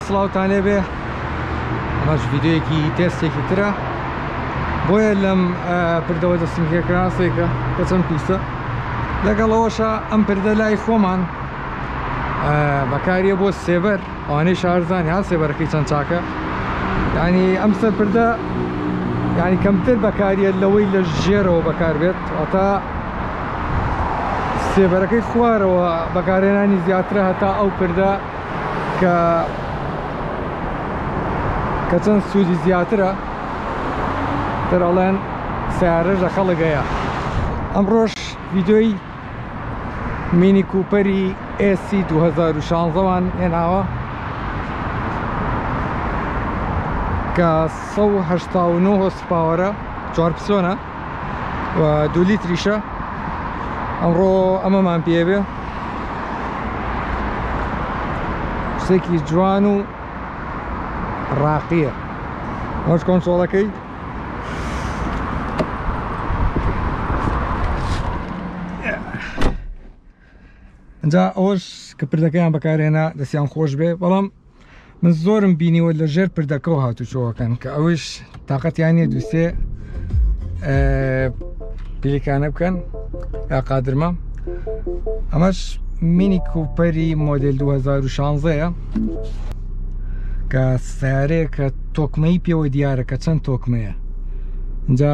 سڵاوتان لێبێ ئەمەش ڤیدیۆیەکی تێستێکی ترە بۆیە لەم پردەوە دەستم هێکراسێکە کە چەند پیسە لەگەڵەوەشە ئەم پردە لای خۆمان بەکاریە بۆ سێبەر ئەوانەی شارزانانی ها سێبەرەکەی چەند چاکە ینی ئەم سەر پردە ینی کەمتر بەکاریە لەوەی لە ژێرەوە بەکار بێت ئەتا سێبەرەکەی خوارەوە بەکارێنانی زیاترە هەتا ئەو پردە کە کە چەند سوودی زیاترە تر ئەڵێن سیارەش لە خەڵک هەیە ئەمڕۆش ویدۆی مینی کوپەری ئێسی 2016 وان هێناوە کە 1970 هۆسپاوەرە چوار پسۆنە و دوو لیتریشە ئەمڕۆ ئەمەمان پێبێ شتێکی جوان و ڕاقیە ئەوش کۆنسۆڵەکەی ئەجا ئەوەش کە پردەکەیان بەکارهێنا دەستیان خۆش بێ بەڵام من زۆرم بینیوە لە ژێر پردەکەەوە هاتوچۆەکەن کە ئەوش تااقەتیانە دووسێ پلیکانە بکەن یا قادرمە ئەمەش مینی کوپەری مۆدل 2016ەیە کە سیارەیە کە تۆکمەی پێوە دیارە کە چەند تۆکمەیە جا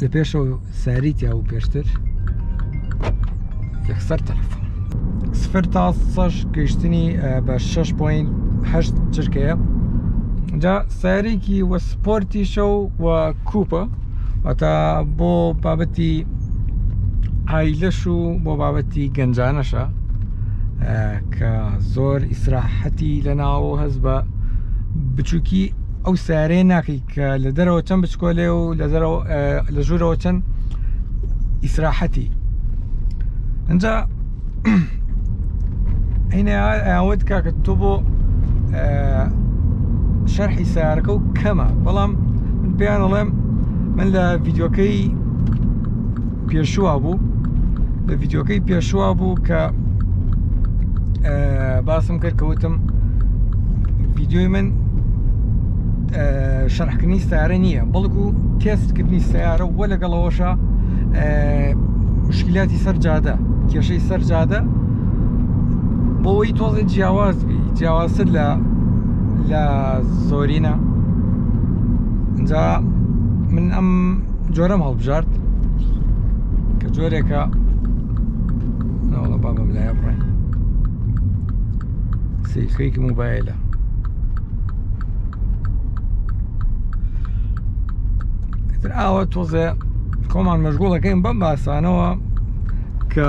لە پێشەوە ساری تیا و پێشتر یەکسەر تەلەفۆن سفر تا سەش گەیشتنی بە 6.8 چرکەیە جا سارێکی وە سپۆرتیشە و و کوپە ئەتا بۆ بابەتی ئایلەش و بۆ بابەتی گەنجانەشە کە زۆر ئیسراحەتی لە ناوە هەز بە بچووکی ئەو سارێ ناکەی کە لە دەرەوە چەند بچکۆلێ و لە دەرەوە لە ژوورەوە چەند ئیسراحەتی ئەجا هینە ئەوەت کاکە تۆ بۆ شەرحی سارەکە و کەمە بەڵام من پێیان ئەڵێم من لە ڤیددیوکەی پێشووا بوو لە ڤیددیوکەی پێشووا بوو کە باسم کرد کەوتم ڤیددیوی من شەرحکردنی سیارە نییە بەڵکو تێستکردنی سیارە وە لەگەڵەوەشە مشکلاتی سەر جادە کێشەی سەر جادە بۆەوەی تۆزی جیاواز بی جیاوازتر لە لە زۆرینە جا من ئەم جۆرەم هەڵ بژارد کە جۆرێکە ناوڵە بابم لایە بڕێ سیخەیەکی موبایلە تر ئاوە تۆزێ خۆمان مەشغوڵەکەین بەم باسانەوە کە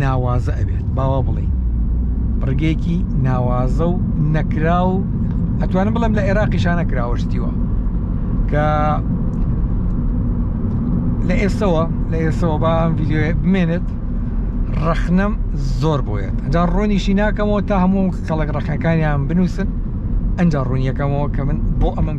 ناوازە ئەبێت باوا بڵێ ڕگەیەکی ناوازە و نەکرا و ئەتوانم بڵم لە عێراقی شانە کراوەشتیوە کە لە ئێستەوە لە ئێستەوە با ئەم ڤیددیوە بمێنێت ڕەخنەم زۆر بۆیێت ئەجا ڕۆنیشی ناکەمەوە تا هەموو کەڵک ڕەخەکانیان بنووسن ئەجا ڕوونیەکەمەوە کە من بۆ ئەمەم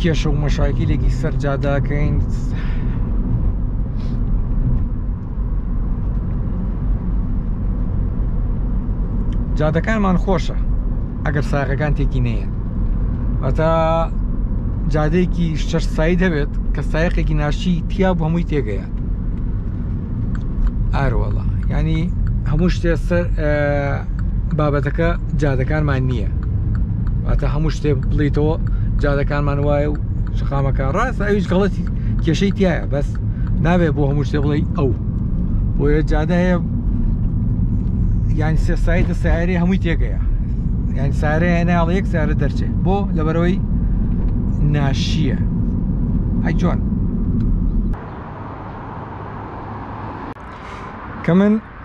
کێشە و مەشاکیلێکی سەر جادەکەین جادەکانمان خۆشە ئەگەر ساغەکان تێکی نەیە ئەتا جادەیەکی شەش سایی دەبێت کە سایقێکی ناشی تیا بۆ هەمووی تێگەیە ئاروەڵە ینی هەموو شتێ سەر بابەتەکە جادەکانمان نییە واتە هەموو شتێ بڵیتەوە جادەکانمان وایە و شقامەکە ڕاست ئەویش گەڵەتی کێشەی تایە بەس نابێت بۆ هەموو شتێ بڵێ ئەو بۆیە جادە هەیە یان سێسایتە سیارەی هەمووی تێگەیە یان سارە هێناڵ یەک سارە دەرچێت بۆ لەبەرەوەی ناشییە ئەی جۆن کە من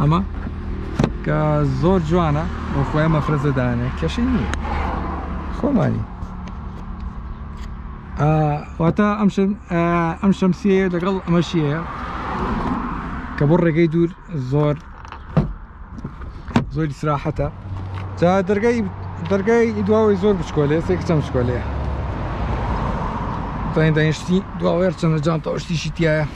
ئەمە کە زۆر جوانە بۆ خۆیان مەفرەزە دانێ کەشی نییە خۆمانی واتە ئەم ئەم شەمسیەیە لەگەڵ ئەمەشیەیە کە بۆ ڕێگەی دوور زۆر زۆری سراحەتە جا دەرگای دەرگای دواوەی زۆر بچکۆلێ سێک چەم شکۆلەیە داین داینشتی دواوەێر چەندە جانتەوەشتیشی تایە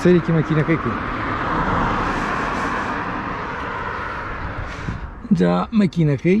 سەرێکی مەکینەکەی کرد جا مەکینەکەی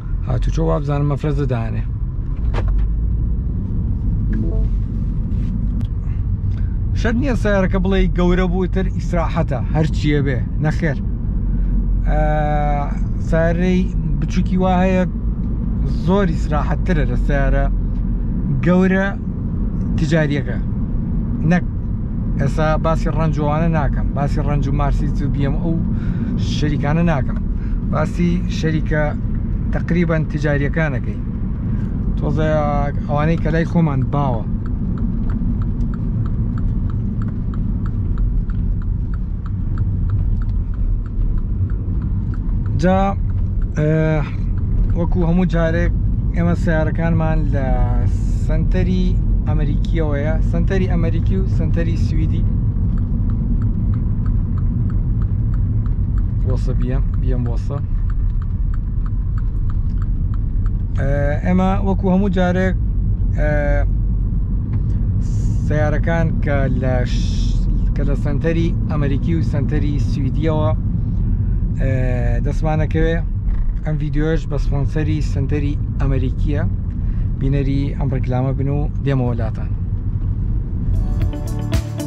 هاتوچۆ وابزانم مەفرەزە دانێ شەر نییە سیارەکە بڵێ گەورە بووتر ئیسراحەتە هەرچیە بێ نەخێر سارەی بچووکی وا هەیە زۆر ئیسراحەتترە لە سیارە گەورە تجاریەکە نەک ئێستا باسی ڕەنجوانە ناکەم باسی ڕەنج و مارسی و بیم ئەو شەریکانە ناکەم باسی شەریکە تقریبا تجاریەکانەکەی تۆزە ئەوانەی کە لای خۆمان باوە جا وەکو هەموو جارێک ئێمە سیارەکانمان لە سنتەری ئەمریکیەوەیە سنتەری ئەمریکی و سنتەری سوئدی بۆسە بیەم بیەم بۆسە ئێمە وەکو هەموو جارێک سیارەکان کە لە کە لە سنتەری ئەمریکی و سنتەری سویدیەوە دەستمانەکەوێ ئەم ڤیددیوش بە سپۆنسەری سنتەری ئەمریکیە بینەری ئەم ڕێکلامە بن و دێمەوەلاتان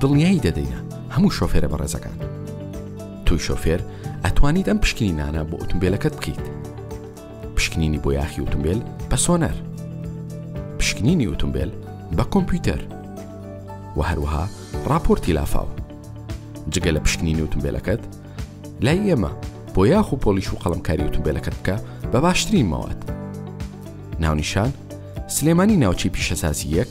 دڵنیایی دەدەینە هەموو شۆفێرە بەڕێزەکان. تۆی شۆفێر ئەتوانیت ئەم پشکنینانە بۆ ئۆتومبێلەکەت بکەیت. پشکنینی بۆ یاخی ئۆتومبێل بە سۆنەر. پشکنینی ئۆتومبێل بە کۆمپیوتەر. و هەروەها ڕاپۆرتی لافاو. جگە لە پشکنینی ئۆتومبێلەکەت لای ئێمە بۆ یاخ و پۆلیش و قەڵمکاری ئۆتومبێلەکەت بکە بە باشترین ماوەت. ناونیشان سلێمانی ناوچەی پیشەسازی یەک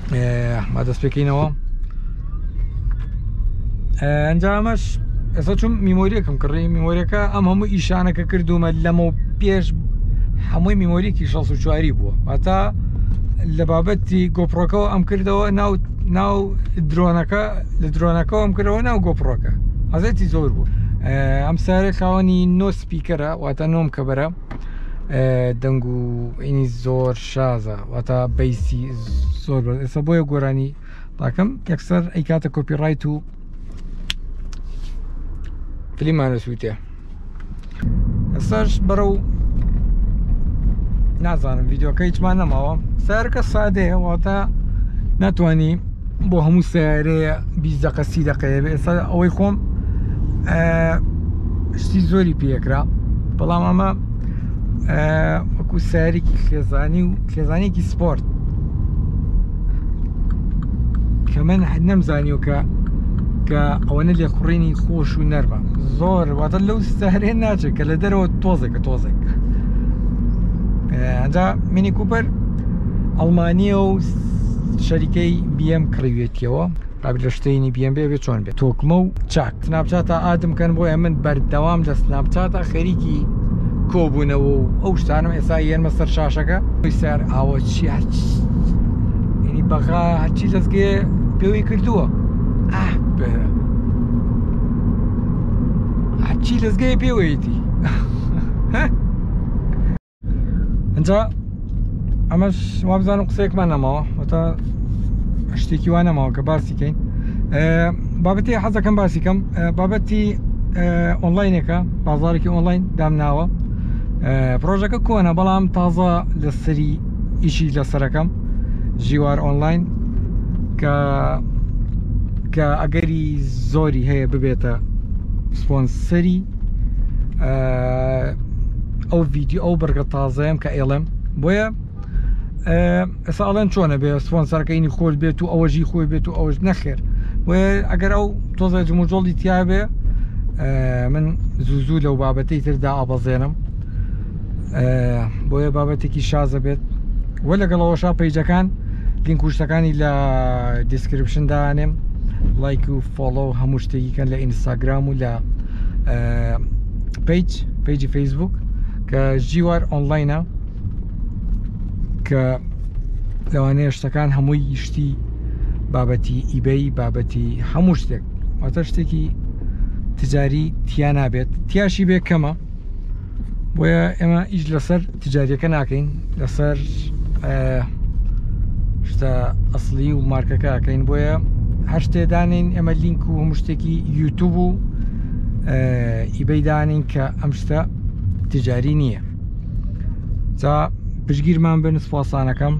ما دەست پێکەینەوە ئەنجامەش ئێستا چون میمۆریەکم کڕی میمۆریەکە ئەم هەموو ئیشانەکە کردومە لەمە پێش هەمووی میمۆریکی 16 بووە واتا لە بابەتی گۆپڕۆکەەوە ئەم کردەوە ناو ناو درۆنەکە لە درۆنەکەەوە ئەم کردەوە ناو گۆپڕۆکە حەزەتی زۆر بوو ئەم سارە خاوەنی نۆ سپیکەرە واتە نۆم کە بەرە دەنگ و ئینی زۆر شازە واتا بەیسی زۆر بە ئێستا بۆیە گۆرانی ڕاکەم یەکسەر ئەی کاتە کۆپی ڕایت و فلیمانە سووتێ ئێستاش بەرە و نازانم یددیوکە هیچمان نەماوە سارکە سادەیە واتە ناتانی بۆ هەموو سیارەیە بیزەقە سی دەقەیە ئێستا ئەوەی خۆم شتی زۆری پێکرا بەڵام ئەمە وەکو سارێکی خێزانی و خێزانێکی سپۆرت کە من حد نەمزانیو کە کە ئەوەنە لێ خوڕینی خۆش و نەرمە زۆر واتە لەو سارێن ناچێت کە لە دەرەوە تۆزێکە تۆزێک ئەجا منی کوپەر ئەڵمانیە و شەریکەی بیەم کڕیوێتیەوە ئەک لە شتەینی بیەم بێ بێ چۆن بێت تۆکمە و چاک سناپچاتە ئادم کەن بۆیە من بەردەوام لە سناپچاتە خەریکی کۆبوونەوە و ئەو شتانم ئێستا یەنمە سەر شاشەکە سەر ئاوە چی ینی بەغا هەرچی دەستگێ پێوەی کردووە هەرچی دەستگەی پێوەیەتی ئەجا ئەمەش وابزانم قسەیەکمان نەماوە وەتا شتێکی وا نەماوە کە باسی کەین بابەتی حەزەکەم باسی کەم بابەتی ئۆنلاینەکە بازارێکی ئۆنلاین دامناوە پرۆژەکە کۆنە بەڵام تازە لە سەری ئیشی لە سەرەکەم ژیوار ئۆنلاین کە کە ئەگەری زۆری هەیە ببێتە سپۆنسەری ئەو ڤیددیو ئەو بڕگە تازەیەم کە ئێڵم بۆیە ئێسا ئەڵێن چۆنە بێ سپۆنسەرەکەینی خۆش بێت و ئەوەژی خۆی بێت و ئەوەش نەخێر ئەگەر ئەو تۆزە جموجۆڵی تیاابێ من زوو زوو لەو بابەتی تردا ئابەزێنم بۆیە بابەتێکی شازە بێت وە لەگەڵەوەشا پیجەکان لینک کوشتەکانی لە دیسکرپشن دانێم لایک و فۆڵۆ و هەموو شتێکیکەن لە ئینستاگرام و لە پیج پیجی فەیسبوک کە ژیوار ئۆنلاینە کە لەوانەیە شتەکان هەمووی یشتی بابەتی ئیبەی بابەتی هەموو شتێک واتە شتێکی تجاری تیا نابێت تیاشی بێ کەمە بۆیە ئێمە ئیش لەسەر تجاریەکە ناکەین لەسەر شتە ئەسلی و مارکەکەکەین بۆیە هەر شتێدانین ئێمە لینک و هەموو شتێکی یوتوب و ئیبەیدانین کە ئەم شتە تجاری نییە جا پشگیرمان بن سوپاسانەکەم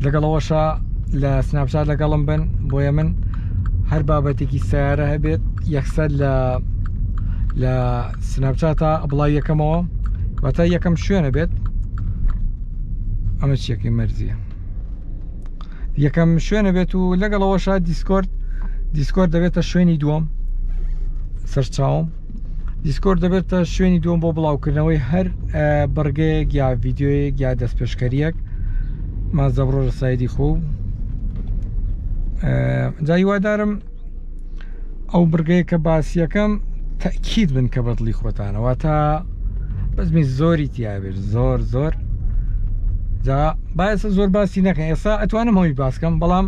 لەگەڵ ئەوەشە لە سناپچات لەگەڵم بن بۆیە من هەر بابەتێکی سیارە هەبێت یەکسەر لە لە سناپچاتە بڵای یەکەمەوە واتە یەکەم شوێنە بێت ئەمە چیەکەی مەرزیە یەکەم شوێنە بێت و لەگەڵەوەشە دیسکۆرد دیسکۆرد دەبێتە شوێنی دووەم سەرچاوم دیسکۆرد دەبێتە شوێنی دوم بۆ بڵاوکردنەوەی هەر بڕگەیەک یا ڤیددیوەیەک یا دەستپێشکەریەک مازە بڕۆ لە سایدی خۆ جایوادارم ئەو بڕگەیە کە باسیەکەم تەکیید بن کە بەدڵی خۆتانەوە تا بەزمی زۆری تیاێت زۆر زۆر جا باەسە زۆر باسی نەکەن ئێستا ئەتوانم هەوی باسکەم بەڵام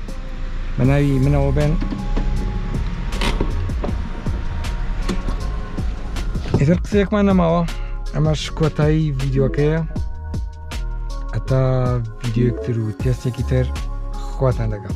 بە ناوی منەوە بێن ئیتر قسەیەکمان نەماوە ئەمەش کۆتایی ڤیددیوکەیە ئەتا ڤیددیوکتر و تێستێکی تر خواتان لەگەڵ.